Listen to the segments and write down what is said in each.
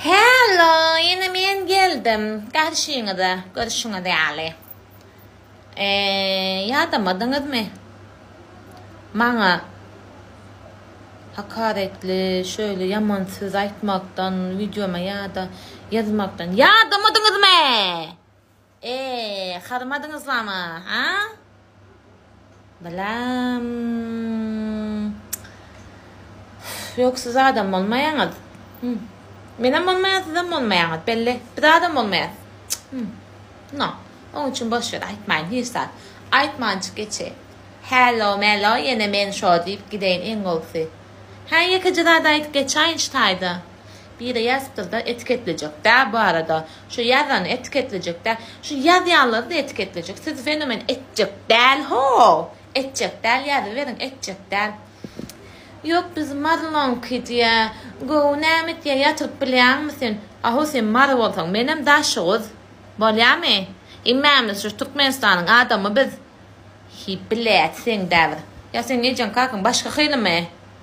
Hello, ýene men geldim garşyňyza, görşüňiz ýaly. Eee, ýadamadyňyzmy? Maňa hakaretli şöýle ýaman söz aýtmakdan, wideoma ýa-da ýazmakdan ýadamadyňyzmy? Eee hadymadyňyzlamy ha Bilamm Ýok siz adam bolmaýaňyz Hum Menem bolmaýan sizem bolmaýaňyz belli biz adam bolmaýas Hum No Oň üçin boş wer aýtmaýyn hiç zat aýtmanjyk geçeýin Hello mello ýene men şo diýip gideýin iň gowusy Hä ýekeje zat aýdyp geçaýynçy taýda. Biri ýazypdyr-da, etiketlejek-dä bu arada. Şu ýazany etiketlejek-dä. Şu ýazýanlary-da etiketlejek. Siz fenomen etjek däl-how! Etjek däl, ýazyberiň, etjek däl. Ýok, biz Marylaňky diýýä. Gowy, näme etýä, ýatyryp bilýäňmi sen? A-how, sen mary bolsaň, menem daşoguz. Bolýamy? Hemmämiz şu Türkmenistanyň adamy biz. Hiý, bilet, seň-dä bir. Ýa seniň ejeň-kakyň başga hylymy?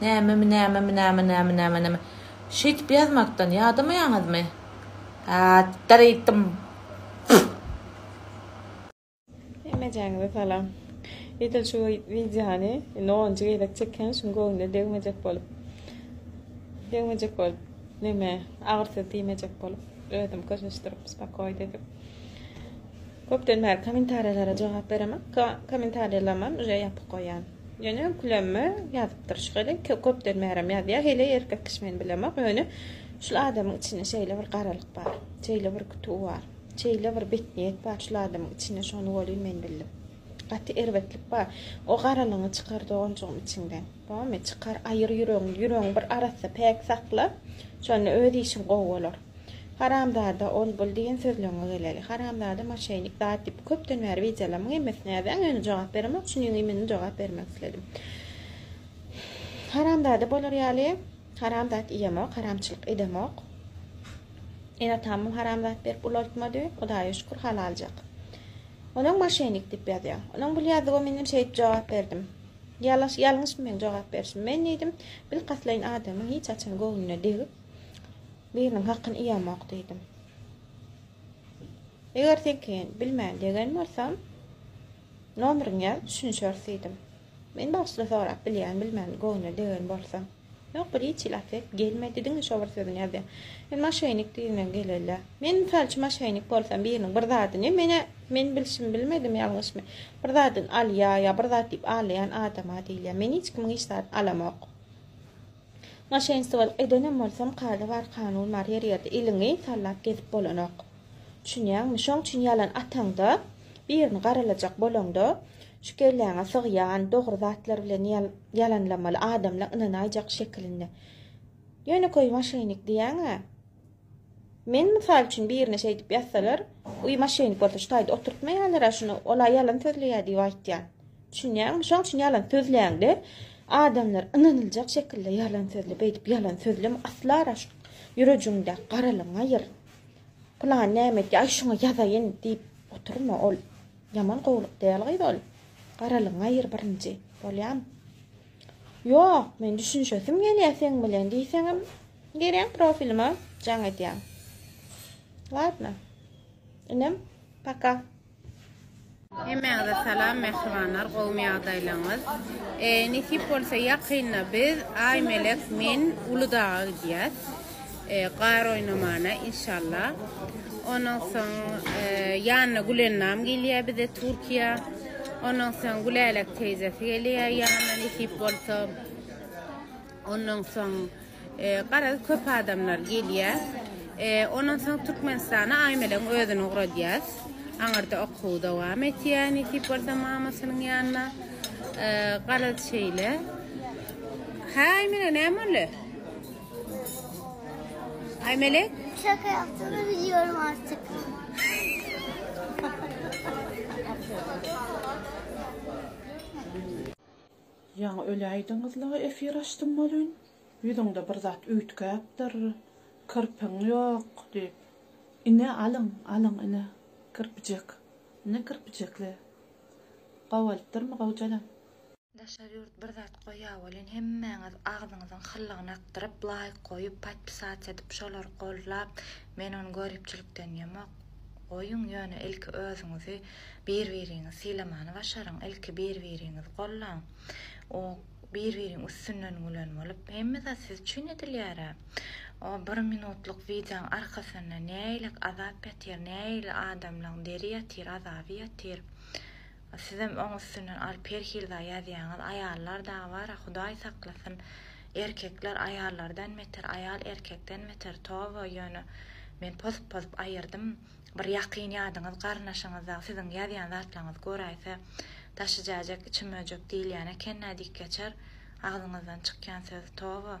Nämemi nämemi näme näme näme näme şeýdip ýazmakdan ýadamaýaňyzmy Atdyr ýitdim Pff. Hemmejaňyza salam. Edil şu wideony indi onunjy gezek çekýän şuň göwnüne degmejek bolup degmejek bolup neme agyr söz diýmejek bolup özüm köşeşdirip spakoýt edip köpden bäri kommentariýalara jogap beremek kommentariýalarymam uje ýapyk goýýan. Ýöne Gülemme ýazypdyr şygyry. Köpden bärem ýazýar. Heleý erkek kişi men bilemok. Ýöne şul adamyň içinde şeýle bir garalyk bar. Şeýle bir kütüw bar. Şeýle bir betniýet bar şul adamyň içinde şony welin men bildim. Gaty erbetlik bar. O garalygyňy çykar doganjygym içiňden. Bamy? Çykar aýyr ýüregiňi. Ýüregiňi bir arassa, päk sakla. Şonda öz işiň gowy bolar. Haramzada ol bul diýen sözleňňe geleli. Haramzada moşenik zat diýip köpden bäri wideolarymyň hemmesini ýazýaň ýöne jogap beremok şunyň ýüňi meni jogap bermek isledim. Haramzada bolar ýaly haram zat iýemok haramçylyk edemok. Ene atamam haram zat berip ulaltmady hudaýa şükür halaljak. Onuň moşenik diýip ýazýaň. Onuň bul ýazdygy menem şeýdip jogap berdim. Ýalaş ýalňyşmy meň jogap berişim men diýdim bilkastlaýyn adamyň hiç haçan göwnüne degip Biriniň hakyny iýemok diýdim. Eger seňki bilmän degen bolsam, nomeriňi ýaz, düşünişeris diýdim. Men bagyşla sorap bilýän, bilmän göwnüne degen bolsam. Ýok, bir hiç ilat edip gelmedi, diňe şo bir sözüni ýazýar. Men maşennik diýdiňem geleli. Men mysal üçin maşennik bolsam, biriniň bir zadyny, men-ä, men bilşimi bilmedim, ýalňyşmy, bir zadyny alýar, ýa bir zat diýip alaýan adam-a diýilýär. Men hiç kimiň hiç zadyny alamok. Maşenstwolyk edenem bolsam kada bar kanun bar her ýerde iliňi sallap gezip bolanok düşünýäňmi şoň üçin ýalan ataňda birini garalajak bolaňda şu kelläňe sygýan dogry zatlar bilen ýalanlamaly adamlar ynanaýjak şekilinde ýönekeý maşenik diýýäňä Men mysal üçin birine şeýdip ýazsalar, Uý maşenik bolsa şu taýda oturtmaýarlar-a şuny, ol-a ýalan sözleýär diýip aýtýan. Düşünýäňmi? Şoň üçin ýalan sözläňde adamlar ynanyljak şekilde ýalan sözle, beýdip ýalan sözleme, asla-a şu ýürejiňde garalygyňy aýyr. Pylany näme etdi, aý şuňa ýazaýyn diýip oturma, ol ýaman gowulyk däl gyz ol. Garalygyňy aýyr birinji, bolýamy? Ýok, men düşünişesim gelýär seň bilen diýseňem gereň profilime jaň edýäň. Ladno. Inim, paka. Hemmäňize salam mähribanlar gowmy ýagdaýlaňyz nesip bolsa ýakynda biz Aýmelek men Uludaga gidýäs. Gar oýnamana inşallah. Ondan soň ýanyna Gülennam gelýär bize Türkiýä. Ondan soň Gülälek teýzesi gelýär ýanyna nesip bolsa. Ondan soň garaz köp adamlar gelýär. Ondan soň Türkmenistana Aýmelegiň özüni ugradýas. Aňyrda okuw dowam etýär nesip bolsa mamasynyň ýanyna. Garaz şeýle. Hä Aýmele näme boldy? Ay Melek. Şaka yaptığını biliyorum artık. Ýaňy öläýdiňizla efir açdym welin, ýüzüňde bir zat üýtgäpdir, kirpiň ýok diýip. Ine alyň, alyň ine kirpijek. Ine kirpijekle. Gowy bolupdyrmy Gowjalan? Daşary ýurt bir zat goýýa welin hemmäňiz agzyňyzyň hyllygyny akdyryp laýk goýup patpisat edip şolary goldlap men ony göripçilikden ýemok goýuň ýöne ilki özüňizi bir biriňiz sylamany başaryň ilki bir biriňizi gollaň o bir biriň üstünden gülen bolup hemme zat siz üçin edilýärä o bir minutlyk wideoň arkasynda näeýlek azap ýatyr näeýle adamlaň deri ýatyr azaby ýatyr Sizem oň üstünden alyp her hili zat ýazýaňyz aýallar dagy bara hudaý saklasyn erkekler aýallardan beter aýal erkekden beter toba ýöne men pozup pozup aýyrdym bir ýakyn ýadyňyz garyndaşyňyz dagy siziň ýazýan zatlaňyzy göräýse daşy jäjek içi möjek diýilýän ekennä diýip geçer agzyňyzdan çykýan söz toba.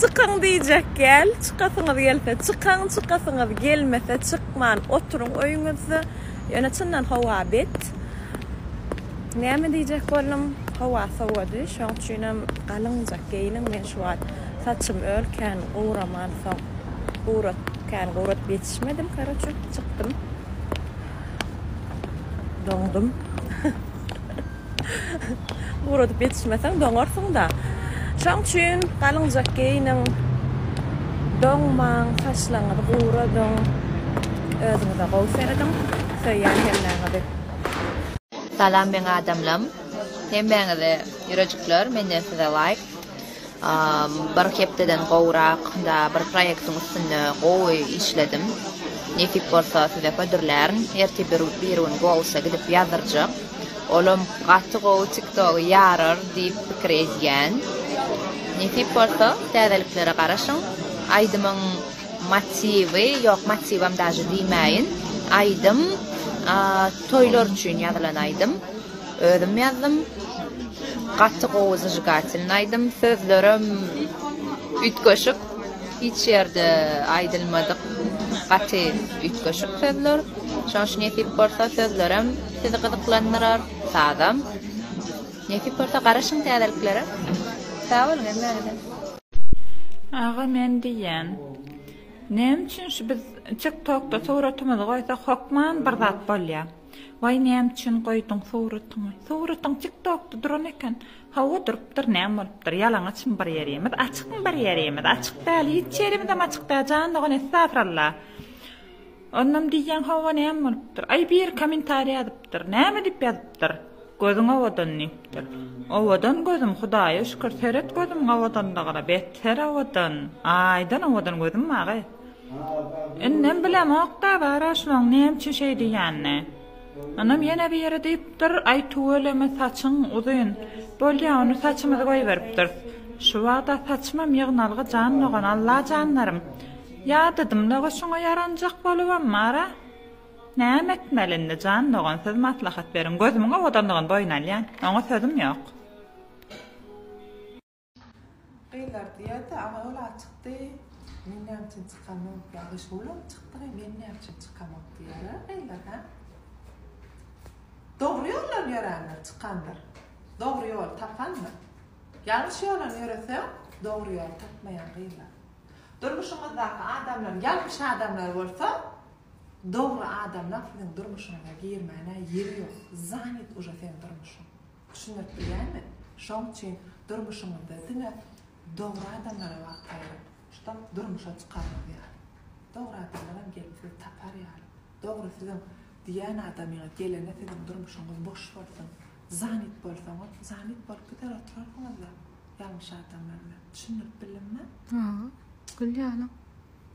Çykyň diýjek gel, çykasyňyz gelse çykyň, çykasyňyz gelmese çykman oturyň öýüňizde. Ýöne çyndan howa bet. Näme diýjek boldum, howa sowady, şoň üçinem galyňjak geýiniň, men şu wagt saçym öl kän guraman soň gurat kän guradyp ýetişmedim karoçe çykdym. Doňdum. Guradyp ýetişmeseň doňarsyň-da. Şoň üçin galyňjak geýiniň, doňmaň, saçlaryňyzy guradyň, özüňize gowy serediň, söýýän hemmäňizi. Salam meň adamlam hemmäňize ýürejikler menden size laýk. Bir hepdeden gowrak da bir proýektiň üstünde gowy işledim. Nesip bolsa size hödürlärin. Ertir bir bir gün Goals-a gidip ýazdyrjak. Olam gaty gowy TikTok-y ýarar diýip pikir edýän. Nesip bolsa täzeliklere garaşyň. Aýdymyň motiwi, ýok motiwam daže diýmäýin. Aýdym toýlar üçin ýazylan aýdym. Özüm ýazdym. Gaty gowy zžigatelny aýdym. Sözlerem üýtgeşik. Hiç ýerde aýdylmadyk gaty üýtgeşik sözler. Şoň üçin nesip bolsa sözlerem sizi gyzyklandyrar, sazam. Nesip bolsa garaşyň täzeliklere. Sag boluň hemmäňize. Aga men diýýän. Näme üçin şu biz tik tokda suratymyzy goýsak hokman bir zat bolýa. Waý näme üçin goýduň suratyňy. Suratyň tik tokda duran eken. Hawa durupdyr näme bolupdyr ýalaňaçmy bir ýerimiz açykmy bir ýerimiz açyk däl hiç ýerimizem açyk däl jan dogan essafralla. Onam diýýän hawa näme bolupdyr. Aý biri komentariýa ýazypdyr näme diýip ýazypdyr gözüň owadan diýipdir. Owadan gözüm hudaýa şükür seret gözümiň owadanlygyna bether owadan aýdan owadan gözüm maga. Indem bilemok-da, Bara şoň näme üçin şeý diýýänini. Onam ýene biri diýipdir, Aý, tüweleme, saçyň uzyn. Bolýa, ony saçymyzy goýberipdiris. Şu wagt-a saçymam ýygnalgy jan dogan, Allajanlarym! Ýadadym-da, goşuňa ýaranjak bolubam, Bara. Näme etmeli indi, jan dogan, siz maslahat beriň. Gözümiň owadanlygyny boýun alýan. Oňa sözüm ýok. Gyzlar diýerdi, Agawul at çykdy, men näme üçin çykamok? Ýa Gyşgul at çykdy we men näme üçin çykamok? diýerler gyzlar, hä? Dogry ýoldan ýöränler çykandyr. Dogry ýoly tapandyr. Ýalňyş ýoldan ýöreseň, dogry ýoly tapmaýaň gyzlar. Durmuşyňyzdaky adamlar ýalňyş adamlar bolsa, dogry adamlaň siziň durmuşyňyza girmäne ýeri ýok. Zanyt uje seň durmuşyň. Düşündürip bilýärmi? Şoň üçin durmuşyňyzda diňe dogry adamlara wagt aýyryň, şuda durmuşa çykanyňyz ýaly. Dogry adamlaram gelip sizi tapar ýaly. Dogry siziň diýýän adamyňyz gelende siziň durmuşyňyz boş bolsun. Zanit bolsaňyz, zanit bolup gider oturarsyňyz-da ýalňyş adamlar bilen. Düşündirip bildimmi? Hawa, gül ýalyň.